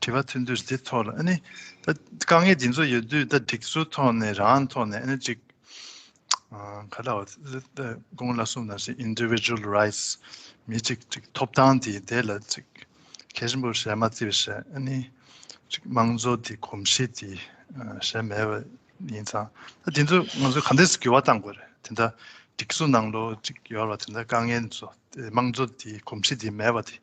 དྲི་བ་ཐོན་དུས་དེ་ཐོག་ལ་ཨ་ནི་ད་དཀའ་ངལ་འདི་ཚོ་ཡོད་དུས་ད་སྒྲིག་སྲོལ་ཐོག་ནས་རང་ཐོག་ནས་ཨ་ནི་ཅིག་ག་ལ་དགོངས་ལ་གསུངས་ན་ཞིག Individual Rights མི་གཅིག་ཅིག་ཐོབ་ཐང་དེ་དེ་ལ་ཅིག་གལ་ཆེན་པོ་བྱས་མ་བརྩི་བ་ཞིག་ཨ་ནི་ཅིག་དམངས་གཙོ་དེ་གོམས་གཤིས་དེ་བྱས་མེད་པ་ཡིན་ཙང་ད་དེ་ཚོ་ང་ཚོས་ག་འདྲས་སུ་འགྱུར་བ་གཏང་དགོས་རེད་དེ་འདྲ་སྒྲིག་སྲོལ་ནང་ལོ་ཅིག་ཡོད་ལ་དེ་འདྲ་དཀའ་ངལ་འདི་ཚོ་དམངས་གཙོ་དེ་གོམས་གཤིས་དེ་མེད་པ་དེ་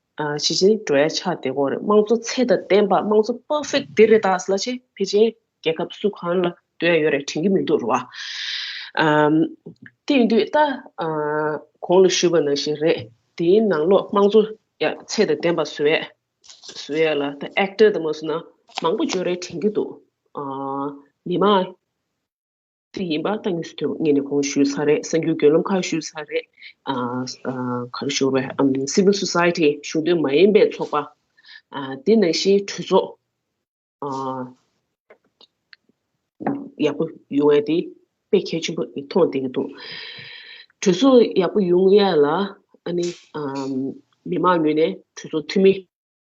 ཞི་ཅིན་ཀྲོའེ་ཕྱག་དེ་སྐོར་རེད་དམངས་གཙོ་ཚད་དང་ལྡན་པ་དམངས་གཙོ perfect དེ་རེད་ད་སླ་ཆེ་ཕེ་ཅིན་རྒྱལ་ཁབ་སུ་གང་ལ་སྡོད་ཡོད་རེད་དྲན་གི་མི་འདུག་རོ་ཨ། དེ་དུས་ད་གོང་ལ་ཞུས་པ་ནང་བཞིན་རེད་དེའི་ནང་ལོག་དམངས་གཙོ་ཚད་དང་ལྡན་པ་བཟོ་ཡས་བཟོ་ཡས་ལ་ད actor དང་མ་བཟོ་ན་མང་པོ་བྱོས་རེད་དྲན་གི་འདུག་མི་མང། སི་ཡིན་པ་ཏང་གི་སི་ཐོད་ངེས་ནས་གོང་ཞུས་ཚར་རེད་གསར་འགྱུར་རྒྱུད་ལམ་ཁག་ཞུས་ཚར་རེད། ག་རེ་ཞུ་བ Civil Society གཞུང་འབྲེལ་མ་ཡིན་པའི་ཚོགས་པ། དེ་ནང་བཞིན་གྲོས་ཚོགས། ཡག་པོ་ཡོང་ཡ་དེ་དཔེ་གལ་ཆེན་པོ་མཐོང་བསྡད་ཀྱི་འདུག་གྲོས་ཚོགས་ཡག་པོ་ཡོང་ཡ་ལ་ཨ་ནི་མི་མང་ངོས་ནས་གྲོས་ཚོགས་འཐུས་མི།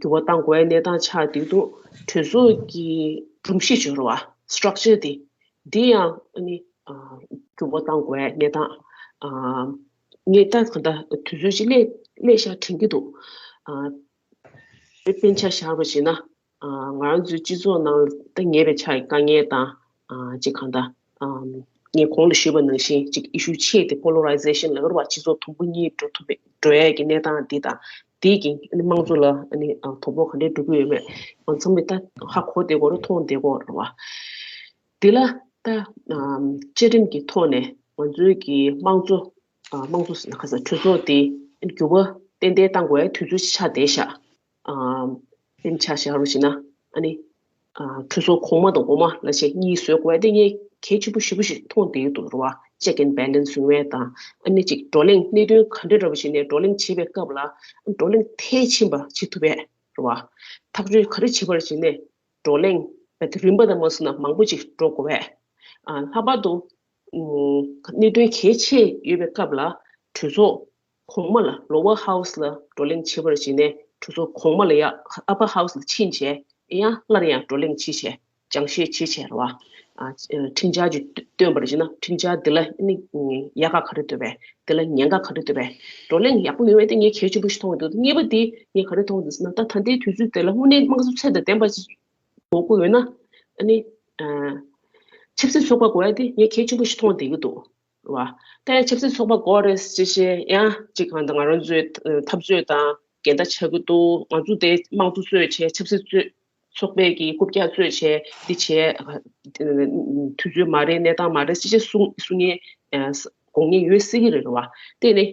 འགྱུར་བ་གཏང་དགོས་གནས་སྟངས་ཆགས་བསྡད་འདུག་གྲོས་ཚོགས་ཀྱི་སྒྲོམ་གཞི་སྦྱོར་བ། Structure། དེ་དེ་ཡང་ནི་འགྱུར་བ་གཏང་དགོས་གནས་སྟངས་ངས་ལྟ་གང་ལྟ་དུས་ཚོད་ཅིག་སླད་ཤར་དྲན་གྱི་འདུག་དཔེ་ཆ་བཞག་པ་བྱས་ན་ང་རང་ཚོའི་སྤྱི་ཚོགས་ནང་ལ་ངེས་པའི་ཆ་ཡི་དཀའ་ངལ་དང་ཅིག་གང་དང། ངས་གོང་དུ་ཞུས་པ་ནང་བཞིན་ཅིག་ཨི་ཤུ་ཆེ་དེ Polarization ལག་ལེན་བར་སྤྱི་ཚོགས་དུམ་བུ་གཉིས་འགྲོ་ཐུབ་མེད་འགྲོ་ཡས་ཀྱི་གནས་སྟངས་འདི་དང་དེའི་གིང་དམངས་གཙོ་ལ་དོ་ཕོག་ག་འདྲའི་འགྲོ་གི་ཡོད་མེད་ང་ཚང་མས་ད་ཧ་གོ་བདེ་གོ་རེ་མཐོང་བདེ་གོ་རེ་བ། དེ་ལ་ད་བཅའ་ཁྲིམས་ཀྱི་ཐོག་ནས་ང་ཚོའི་གི་དམངས་གཙོ་དམངས་གཙོ་ཟེར་ན་ག་ས་གྲོས་ཚོགས་དེ་འགྱུར་བ་ཏན་ཏན་གཏང་དགོས་དུས་ཚོད་ཆ་དེ་བཞག་སེམས་ཆགས་བཞག་རོ་ཞེ་ན། ཁྲུས་སོགས་གོང་མ་དང་འོག་མ་ལ་ཞེས་གཉིས་བཟོད་དགོས་ཏེ་གཉེན་གལ་ཆེན་པོ་བཞི་པོ་ཞིག་མཐོང་དེའི་དུ་རུ་བ་ཅད་ཀན་བལ་ལན་བཟུང་བས་དང། གནད་གཅིག་བགྲོ་གླེང་གནད་དོན་ག་འདྲ་འདྲ་བོ་ཞིག་ནས་བགྲོ་གླེང་བྱེད་པའི་སྐབས་ལ་བགྲོ་གླེང་མཐའི་ཕྱིན་པ་བྱེད་ཐུབ་པས་རུ་བ། ཐག་གཅོད་ག་རེ་བྱེད་པར་བྱས་ནས་བགྲོ་གླེང་རིམ་པ་དང་མ་བསུ་ན་མང་པོ་ཅིག་འགྲོ་དགོས་པས། ལྷག་པར་དུ་གནད་དོན་གལ་ཆེ་ཡོད་པའི་སྐབས་ལ་གྲོས་ཚོགས་གོང་མ་ལ Lower House ལ་བགྲོ་གླེང་བྱེད་པར་བྱིན་ནས་གྲུ་ཟུར་གོང་མ་ལ་ཡང Upper House ལ་ཕྱིན་བྱས་ཡང་སྔར་ཡང་བགྲོ་གླེང་བྱེད་བྱས་ཀྱང་ཤེས་བྱེད་བྱས་ར་བ། ཁྲིམས་འཆར་གྱི་སྟོན་པར་བྱེད་ན་ཁྲིམས་འཆར་འདི་ལ་ཡག་ག་ག་རེ་འདོད་པས་འདི་ལ་ཉེན་ཁ་ག་རེ་འདོད་པས་བགྲོ་གླེང་ཡག་པོ་ཡོང་བས་དེ་ངས་གལ་ཆེན་པོ་ཞིག་མཐོང་གི་འདུག་གཉིས་པ་དེ་ངས་ག་རེ་མཐོང་གི་འདུག་ཟེར་ན་ད་ད་ལྟའི་དུས་ཚོད་དེ་ལ་དངོས་གནས་དམངས་གཙོ་ཚད་དང་ལྡན་པ་ཞིག་དགོས་དགོས་ཡོད་ན་ཆབ་སྲིད་ཚོགས་པ་དགོས་ཡ་དེ་ངས་གལ་ཆེན་པོ་ཞིག་མཐོང་བསྡད་ཀྱི་འདུག་བ། ལྟའི་ཆབ་སྲིད་ཚོགས་པ་སྐོར་རེད་ཅེས་བཤད་ཡང་ཅིག་གང་ལྟར་ང་རང་ཚོའི་འཐབ་རྩོད་དང་འགལ་ཟླ་ཆགས་ཀྱི་འདུག་ང་ཚོ་དེ་དམངས་གཙོ་གཙོས་བྱས་ཆབ་སྲིད་གཙོས་ཚོགས་པས་ཀྱི་རྐུབ་བཀྱག་གཙོས་བྱས་འདི་བྱས། དུས་ཚོད་མ་རེད་གནས་སྟངས་མ་རེད་ཅེས་བཤད་གསུང་ངེས་དགོངས་ངེས་ཡོད་སྲིད་ཀྱི་རེད་བ། དེ་ནི་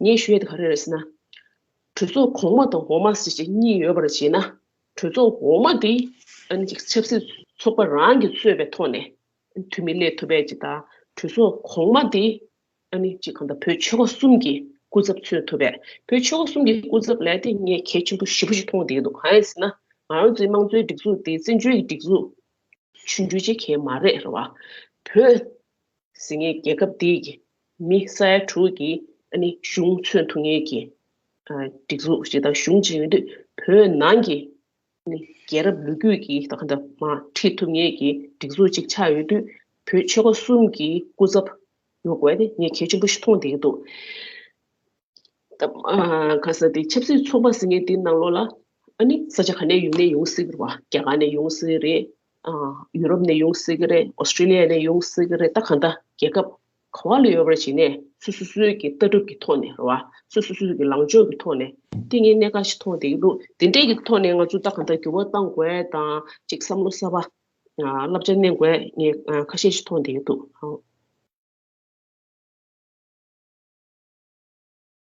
ངས་ཞུ་ཡ་དེ་ག་རེ་རེད་ཟེར་ན། གྲོས་ཚོགས་གོང་མ་དང་འོག་མ་ཞེས་བྱས་གཉིས་ཡོད་པར་བྱས་ན། གྲོས་ཚོགས་འོག་མ་དེ་ཆབ་སྲིད་ཚོགས་པ་རང་གིས་གཙོས་པའི་ཐོག་ནས་འཐུས་མི་ལས་ཐོ་བས་ཇི་ལྟར་གྲོས་ཚོགས་གོང་མ་དེ་ནི་གཅིག་གང་ལྟར་བོད་ཆོལ་ཁ་གསུམ་གྱི་སྐུ་ཚབ་མཚོན་ཐུབ་པས་བོད་ཆོལ་ཁ་གསུམ་གྱི་སྐུ་ཚབ་ལས་དེ་ངས་གལ་ཆེན་པོ་བཞི་པོ་ཞིག་མཐོང་བསྡད་འདུག་གང་ཡིན་ཟེར་ན་ང་རང་ཚོའི་དམངས་གཙོའི་སྒྲིག་འཛུགས་དེ་བཙན་བྱོལ་གྱི་སྒྲིག་འཛུགས་ཆུང་ཆུང་ཅན་གལ་མ་རེད་རེད་བ། བོད་ཟེར་ངའི་རྒྱལ་ཁབ་དེ་ཡི་མི་ས་ཡ་དྲུག་གི་གཞུང་མཚོན་ཐུབ་ངེས་ཀྱི་སྒྲིག་འཛུགས་ཞིག་དང་གཞུང་ཅིག་ཡིན་དུས་བོད་ནང་གི་རྒྱལ་རབས་ལོ་རྒྱུས་ཀྱི་ཁྲིད་ཐུབ་ངེས་ཀྱི་སྒྲིག་འཛུགས་གཅིག་ཆགས་ཡོད་དུས་བོད་ཆོལ་ཁ་གསུམ་གྱི་སྐུ་ཚབ་ཡོང་དགོས་ནི་ངས་གལ་ཆེན་པོ་ཞིག་མཐོང་བསྡད་འདུག་ག་ས་དེ་ཆབ་སྲིད་ཚོགས་པ་ཟེར་ངེས་དེ་ནང་ལོགས་ལ་ཨ་ནི་ས་ཆ་ག་ནས་ཡོང་ནས་ཡོང་སྲིད་པ་རྒྱ་གར་ནས་ཡོང་སྲིད་རེད་ཡུ་རོབ་ནས་ཡོང་སྲིད་ཀྱི་རེད་ཨོ་སྟྲེ་ལི་ཡ་ནས་ཡོང་སྲིད་ཀྱི་རེད་ད་གང་ལྟ་རྒྱལ་ཁབ་གང་བ་ལས་ཡོལ་བར་བྱས་ནས་སུ་སུ་སུའི་ཀྱི་ལྟ་གྲུབ་ཀྱི་ཐོག་ནས་རོ། སུ་སུ་སུའི་ཀྱི་ལངས་ཕྱོགས་ཀྱི་ཐོག་ནས་ཏིང་ངེ་གནས་ཁ་ཞིག་མཐོང་བསྡད་ཀྱི་འདུག་དེ་འདྲའི་ཀྱི་ཐོག་ནས་ང་ཚོས་ལྟ་གང་ལྟར་འགྱུར་བ་གཏང་དགོས་དང་ཅིག་བསམ་བློ་གསར་བ་བསླབ་བྱ་བསྣན་དགོས་ངེས་ཁ་ཤས་ཤིག་མཐོང་བསྡད་ཀྱི་འདུག་ཨང།